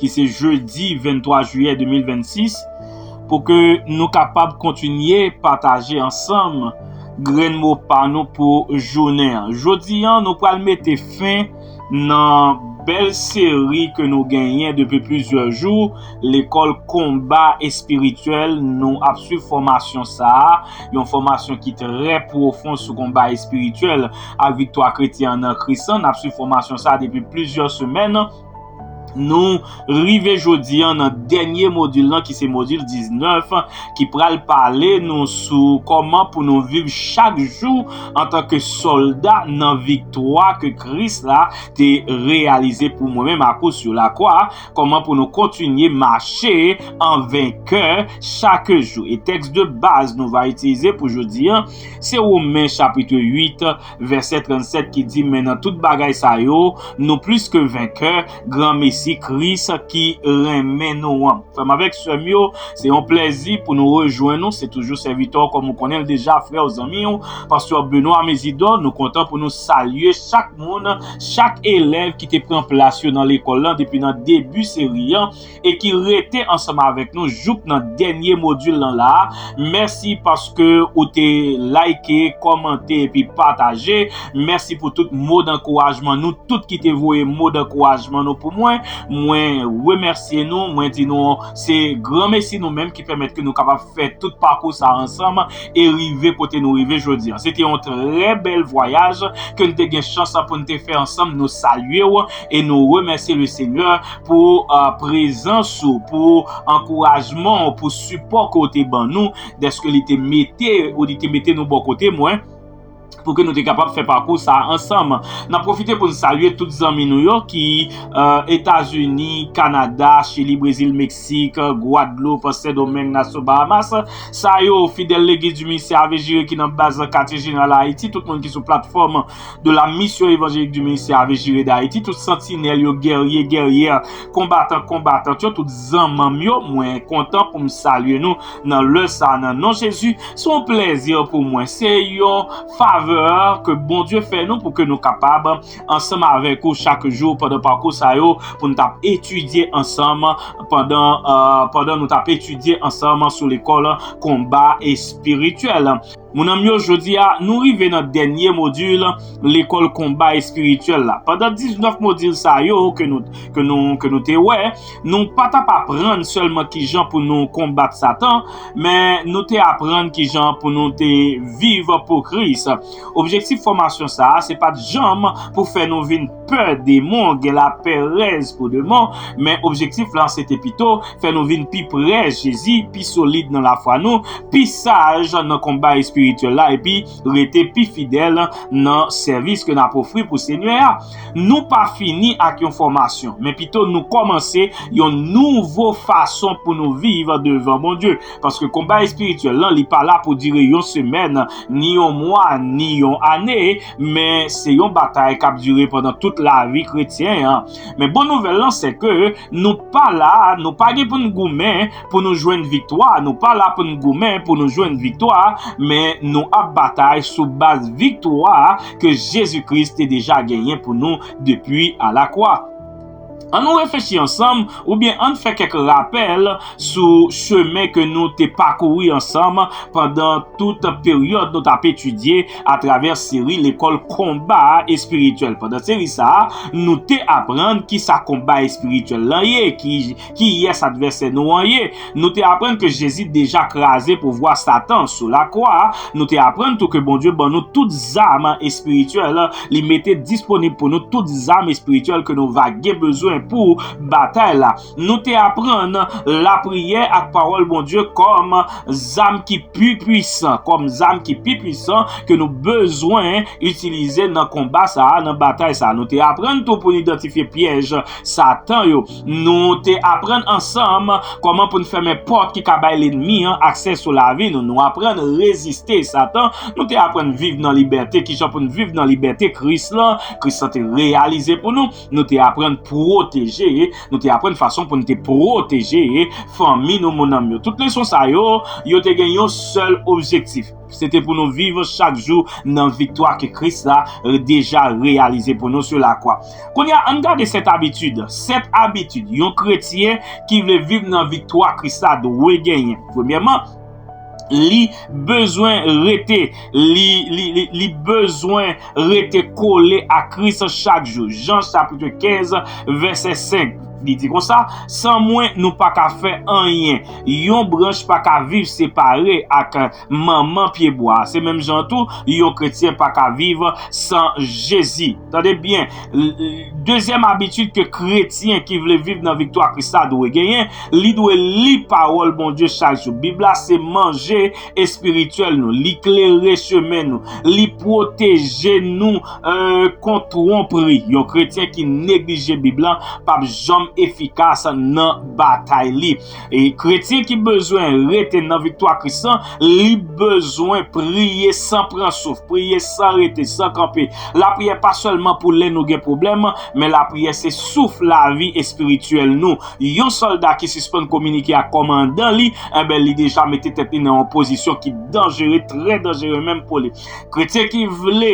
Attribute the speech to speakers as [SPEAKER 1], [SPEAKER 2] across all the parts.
[SPEAKER 1] ki se jedi 23 jiyè 2026 pou ke nou kapab kontinye pataje ansanm grenn mo pa nou pou jounen an. Jodi an nou pral mete fen nan bèl seri ke nou genyen depi plizyè jou lekòl konba espirityèl nou ap swiv fòmasyon sa a, yon fòmasyon ki trè pwofon sou konba espirityèl ak viktwa kretyen an nan Kris lan, n ap swiv fòmasyon sa a depi plizyè semèn. Nou rive jodi an nan dènye modil lan ki se modil 19 ki pral pale nou sou kòman pou nou viv chak jou antanke sòlda nan viktwa ke Kris la te reyalize pou mwen menm ak ou sou lakwa, kòman pou nou kontinye mache an venkè chak jou. E tèks de baz nou va itilize pou jodi an se Women chapitre 8 Vèsè 37 ki di, Men nan tout bagay sa yo, nou plis ke venkè, granmesi Kris ki renmen nou an. Frè m avèk sè m yo, se yon plèzi pou nou rejwenn ou. Se toujou sèvitè w kòm ou konnen l deja, frè w, zanmi w, pastè Benoît Mésidor. Nou kontan pou nou salye chak moun, chak elèv ki te pran plas yo nan lekòl lan depi nan debi seri an. e ki rete ansanm avèk nou jouk nan dènye modul lan la a, mèsi paske ou te like, kòmante epi pataje, mèsi pou tout mo dankourajman nou tout ki te voye mo dankourajman nou pou mwen, mwen remèsye nou, mwen di nou se gran mesi nou menm ki pèmèt ke nou kapab fè tout pakou sa ansanm e rive kote nou rive jodi an. Se te yon trè bèl vwayaj ke n te gen chans pou n te fè ansanm, nou salye w e nou remèsye le Senyè. pou prezans ou, pou ankourajman ou, pou sipò ke ou te ban nou, dèske li te mete ou li te mete nou bò kote mwen, pou ke nou te kapab fè pakou sa a ansanm. N ap pwofite pou n salye tout zanmi nou yo ki Etazini, Kanada, Chili, Brezil, Meksik, Gwadloup, Sendomeng, Naso Bahamas. Sa yo, fidèl Legliz di Ministè Ave Jire ki nan baz katye jeneral Ayiti, tout moun ki sou platfòm de la Mission Evangélique du Ministère Ave Jire d'Haïti, tout santinèl yo, gèrye, gèryè, konbatan, konbatant yo, tout zanman m yo, mwen kontan pou m salye nou nan lè sa a nan non Jezi. Se yon plèzi pou mwen, se yon favè ke Bondye fè nou pou ke nou kapab ansanm avèk ou chak jou pandan pakou sa yo pou nou t ap etidye ansanm pandan, pandan nou t ap etidye ansanm sou lekòl konba espirityèl. Mon anm yo jodi a nou rive nan dènye modil lekòl konba espirityèl la. Pandan 19 modil sa yo ke nou ke nou ke nou te wè, nou pa t ap aprann sèlman kijan pou nou konbat satan, men nou te aprann kijan pou nou te viv pou Kris. Objektif fòmasyon sa a se pa t janm pou fè nou vin. pè demon, gen lapèrèz pou demon, men objektif lan se te pito fè nou vin pi pre Jezi, pi solid nan lafwa nou, pi saj nan konba espirityèl la epi rete pi fidèl nan sèvis ke n ap ofri pou Senyè a. Nou pa fini ak yon fòmasyon, men pito nou kòmanse yon nouvo fason pou nou viv devan Bondye, paske konba espirityèl lan li pa la pou dire yon semèn, ni yon mwa, ni yon ane, men se yon batay k ap dire pandan tout lavi kretyen an. Men bon nouvèl lan se ke nou pa la, nou pa gen pou n goumen pou nou jwenn viktwa, nou pa la pou n goumen pou nou jwenn viktwa, men nou ap batay sou baz viktwa ke Jezi Kris te deja genyen pou nou depi alakwa. An nou reflechi ansanm oubyen ann fè kèk rapèl sou chemen ke nou te pakouri ansanm pandan tout peryòd nou t ap etidye atravè seri lekòl konba espirityèl. Pandan seri sa a, nou te aprann kisa konba espirityèl lan ye, Kiyès advèsè nou an ye? Nou te aprann ke Jezi deja kraze pouvwa Satan sou lakwa. Nou te aprann tou ke Bondye ban nou tout zam espirityèl. Li mete disponib pou nou tout zam espirityèl ke nou va gen bezwen pou batay la. Nou te aprann lapriyè ak Pawòl Bondye kòm zam ki pi puisan, kòm zam ki pi puisan ke nou bezwen itilize nan konba sa a, nan batay sa a. Nou te aprann tou pou nou idantifye pyèj Satan yo. Nou te aprann ansanm kòman pou n fèmen pòt ki ka bay lenmi an aksè sou lavi nou. Nou aprann reziste Satan. Nou te aprann viv nan libète. Kijan pou n viv nan libète Kris la, Kris la te reyalize pou nou. Nou te aprann pwoteje. Nou te aprann fason pou n te pwoteje fanmi nou, mounanm yo. Tout leson sa yo, yo te gen yon sèl objektif. Se te pou nou viv chak jou nan viktwa ke Kris la deja reyalize pou nou sou lakwa. Kounye a, ann gade sèt abitid. Sèt abitid yon kretyen ki vle viv nan viktwa Kris la dwe genyen. Premyèman, li bezwen rete, li bezwen. Rete kole a Kris chak jou. Jan chapitre 15 vèsè 5 li di konsa, San mwen nou pa ka fè anyen. Yon branch pa ka viv separe ak manman pyebwa a. Se menm jan an tou, yon kretyen pa ka viv san Jezi. Tande byen, dezyèm abitid ke kretyen ki vle viv nan viktwa Kris la dwe genyen, li dwe li pawòl Bondye chak jou. Bib la se manje espirityèl nou, li klere chemen nou, li pwoteje nou kont twonpri. Yon kretyen ki neglije Bib la p ap janm efikas nan batay li. E kretyen ki bezwen rete nan viktwa Kris la, li bezwen priye san pran souf, priye san rete, san kanpe. Lapriyè pa sèlman pou lè nou gen pwoblèm, men lapriyè se souf lavi espirityèl nou. Yon sòlda ki sispann kominike ak kòmandan li, enben li deja mete tèt li nan yon pozisyon ki danjere, trè danjere menm pou li. Kretyen ki vle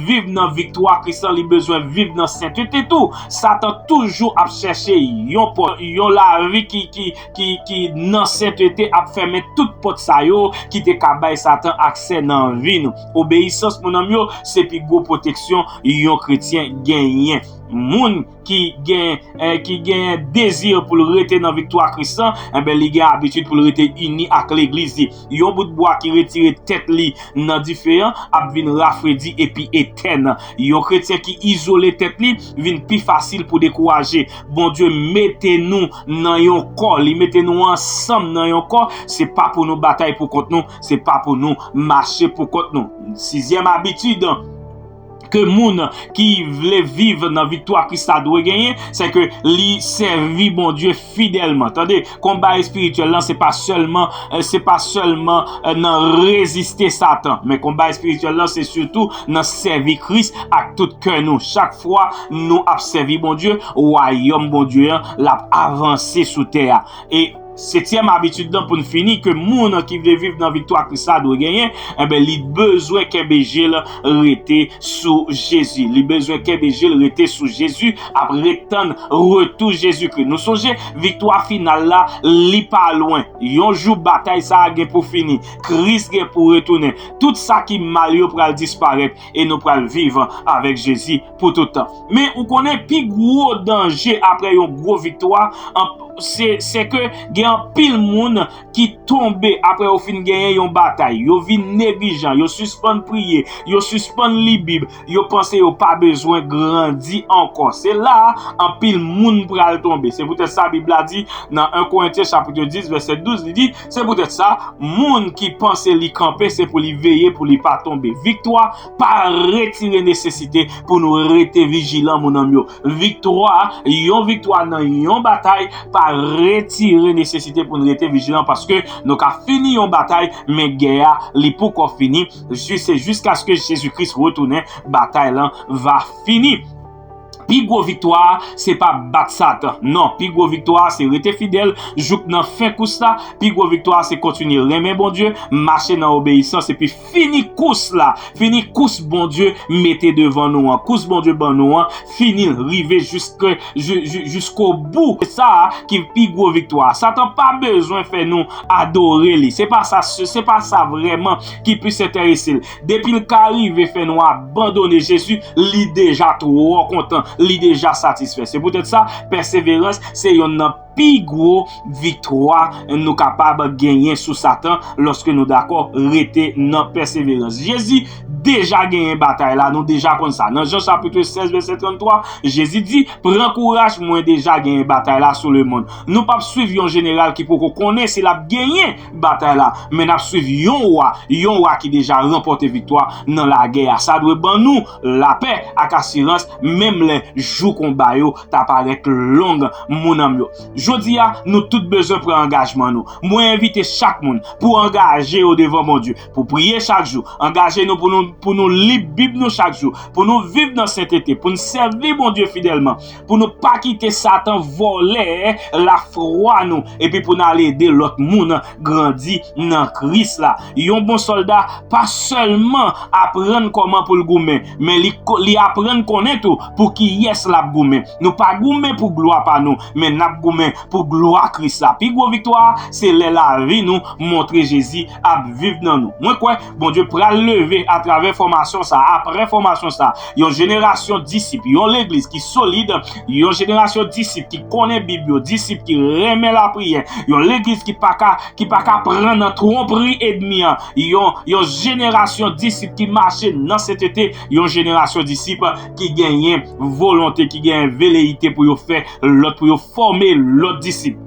[SPEAKER 1] viv nan viktwa Kris lan, li bezwen viv nan sentete tou. Satan toujou ap chèche yon pòt. Yon lavi ki nan sentete ap fèmen tout pòt sa yo ki te ka bay Satan aksè nan vi nou. Obeyisans, monanm yo, se pi gwo pwoteksyon yon kretyen genyen. Moun. ki gen ki genyen dezi pou l rete nan viktwa Kris lan, enben li gen abitid pou l rete ini ak Legliz li. Yon bout bwa ki retire tèt li nan dife an ap vin rafredi epi etèn. Yon kretyen ki izole tèt li vin pi fasil pou dekouraje. Bondye mete nou nan yon kò, li mete nou ansanm nan yon kò, se pa pou nou batay poukont nou, se pa pou nou mache poukont nou. Sizyèm abitid. ke moun ki vle viv nan viktwa Kris la dwe genyen, se ke li sèvi Bondye fidèlman. Tande, konba espirityèl lan se pa sèlman, se pa sèlman nan reziste Satan, men konba espirityèl lan se sitou nan sèvi Kris ak tout kè nou. Chak fwa nou ap sèvi Bondye, wayòm Bondye an l ap avanse sou tè a. Setyèm abitid lan pou n fini ke moun ki vle viv nan viktwa Kris la dwe genyen, enben li bezwen kenbe je l rete sou Jezi. Li bezwen kenbe je l rete sou Jezi, ap ret tann retou Jezikri. Nou sonje, viktwa final la, li pa lwen. Yon jou batay sa a gen pou fini. Kris gen pou retounen. Tout sa ki mal yo pral disparèt e nou pral viv avèk Jezi pou tout tan. Men ou konnen pi gwo danje apre yon gwo viktwa, se ke gen anpil moun ki tonbe apre yo fin genyen yon batay. Yo vin neglijan, yo sispann priye, yo sispann li bib, yo panse yo pa bezwen grandi ankò. Se la a anpil moun pral tonbe. Se poutèt sa bib la di nan 1 Korentyen chapit 10 vèsè 12, li di, se poutèt sa moun ki panse li kanpe se pou li veye pou li pa tonbe. Viktwa pa retire nesesite pou nou rete vijilan moun anm yo viktwa yon viktwa nan yon batay pa retire nesesite pou nou rete vijilan paske nou ka fini yon batay men gè a li poukò fini jis se jiskaske jezi kris retounen batay lan va fini. Pi gwo viktwa a se pa bat satan non pi gwo viktwa a se rete fidèl jouk nan fen kous la pi gwo viktwa a se kontinye renmen Bondye mache nan obeyisans epi fini kous la fini kous Bondye mete devan nou an kous Bondye ban nou an finil rive jiske jisko bou se sa a ki pi gwo viktwa a satan pa bezwen fè nou adore li se pa sa se pa sa vrèman ki plis enterese l. Depil ka rive fè nou abandone Jezi, li deja twò kontan, li deja satisfè. Se poutèt sa, pèseverans se yonn nan pi gwo viktwa nou kapab genyen sou Satan lòske nou dakò rete nan pèseverans. Jezi deja genyen batay la, nou deja konn sa. Nan Jan chapitre 16 vèsè 33, Jezi di, Pran kouraj, mwen deja genyen batay la sou lemonn. Nou pap swiv yon jeneral ki poko konnen si lap genyen. batay la, men n ap suiv yon wa, yon wa ki deja ranpòte viktwa nan lagè a. Sa dwe ban nou lapè ak asirans menm lè jou konba yo ta parèt long, mounn an m yo. Jodi a, nou tout bezwen pran angajman nou. Mwen envite chak moun pou angaje yo devan Bondye, pou priye chak jou, angaje nou pou nou li Bib nou chak jou, pou nou viv nan sentete, pou n sèvi Bondye fidèlman. pou nou pa kite satan vòlè lafwa nou epi pou nou al ede lòt moun grandi nan Kris la. Yon bon sòlda pa sèlman aprann kòman pou l goumen, men li aprann konnen tou pou kiyès l ap goumen. Nou pa goumen pou glwa pa nou, men n ap goumen pou glwa Kris la. Pi gwo viktwa a se lè lavi nou montre Jezi ap viv nan nou. Mwen kwè Bondye pral leve atravè fòmasyon sa a, apre fòmasyon sa a, yon jenerasyon disip, yon legliz ki solid, yon jenerasyon disip ki konnen Bib yo, disip ki renmen lapriyè, yon legliz ki pa ka, ki pa ka pran nan twonpri edmi an, yon, yon jenerasyon disip ki mache nan sentete, yon jenerasyon disip ki genyen volonte, ki genyen veleyite pou yo fè lòt, pou yo fòme lòt disip.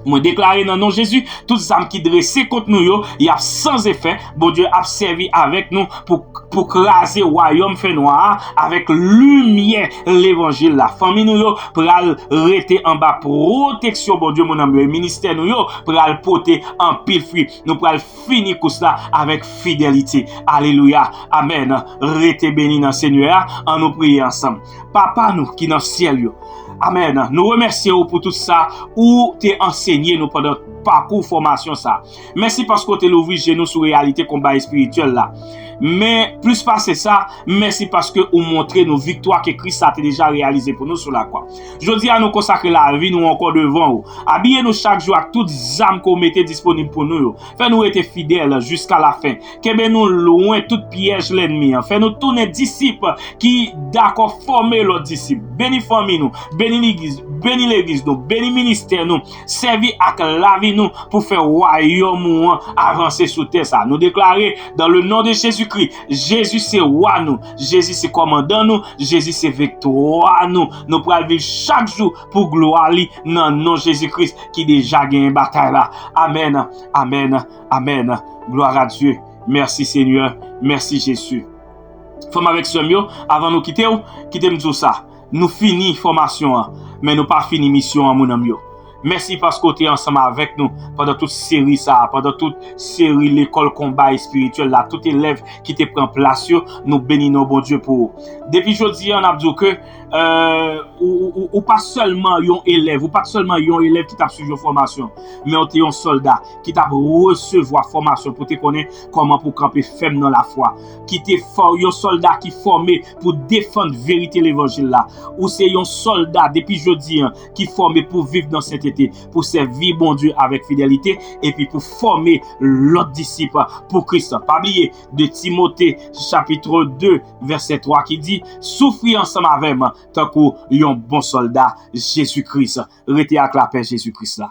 [SPEAKER 1] Mwen deklare nan non Jezi, tout zam ki drese kont nou yo, y ap san zefè, Bondye ap sèvi avèk nou pou kraze wayòm fènwa a avèk limyè levanjil la. Fanmi nou yo pral rete anba pwoteksyon Bondye mon anm yo e ministè nou yo pral pote anpil fwi. Nou pral fini kous la avèk fidelite. Alelouya! Amèn! Rete beni nan Senyè a! Annou priye ansanm. Papa nou ki nan syèl yo. Amen. Nou remèsye ou pou tout sa ou te ansenye nou pandan pakou fòmasyon sa. Mèsi paske ou te louvri je nou sou reyalite konba espirityèl la. Men, plis pase sa, mèsi paske ou montre nou viktwa ke Kris la te deja reyalize pou nou sou lakwa. Jodi a nou konsakre lavi nou ankò devan ou. Abiye nou chak jou ak tout zam ke ou mete disponib pou nou yo. Fè nou rete fidèl jiska lafen. kenbe nou lwen tout pyèj lènmi an, fè nou tounen disip ki dakò fòme lòt disip, beni fanmi nou, beni legliz nou, beni ministè nou, sèvi ak lavi nou pou fè wayòm ou an avanse sou tè sa. Nou deklare dan le non de Jezi Kri, Jezi se Wa nou, Jezi se Kòmandan nou, Jezi se viktwa nou, nou pral viv chak jou pou glwa li nan non Jezi Kris ki deja genyen batay la. Amèn, amèn. Amen gloire à Dieu merci seigneur merci Jesus frèm avèk sèm yo avan nou kitew kitem diw sa nou fini fòmasyon an men nou pa fini misyon an moun anm yo mèsi paske ou te ansanm avèk nou pandan tout seri sa pandan tout seri lekòl konba espirityèl la tout elèv ki te pran plas yo nou beni non Bondye pou ou depi jodi an nap diw ke ou pa sèlman yon elèv ou pat sèlman yon elèv ki tap swiv yon fòmasyon men ou te yon sòlda. ki t ap resevwa fòmasyon pou te konnen kòman pou kanpe fèm nan lafwa, ki te yon sòlda ki fòme pou defann verite levanjil la. Ou se yon sòlda depi jodi an ki fòme pou viv nan sentete, pou sèvi Bondye avèk fidelite, epi pou fòme lòt disip pou Kris. Pa bliye 2 Timote chapit 2 vèsè 3 ki di, Soufri ansanm avè m, tankou yon bon solda Jezi Kris. Rete ak lapè Jezi Kris la.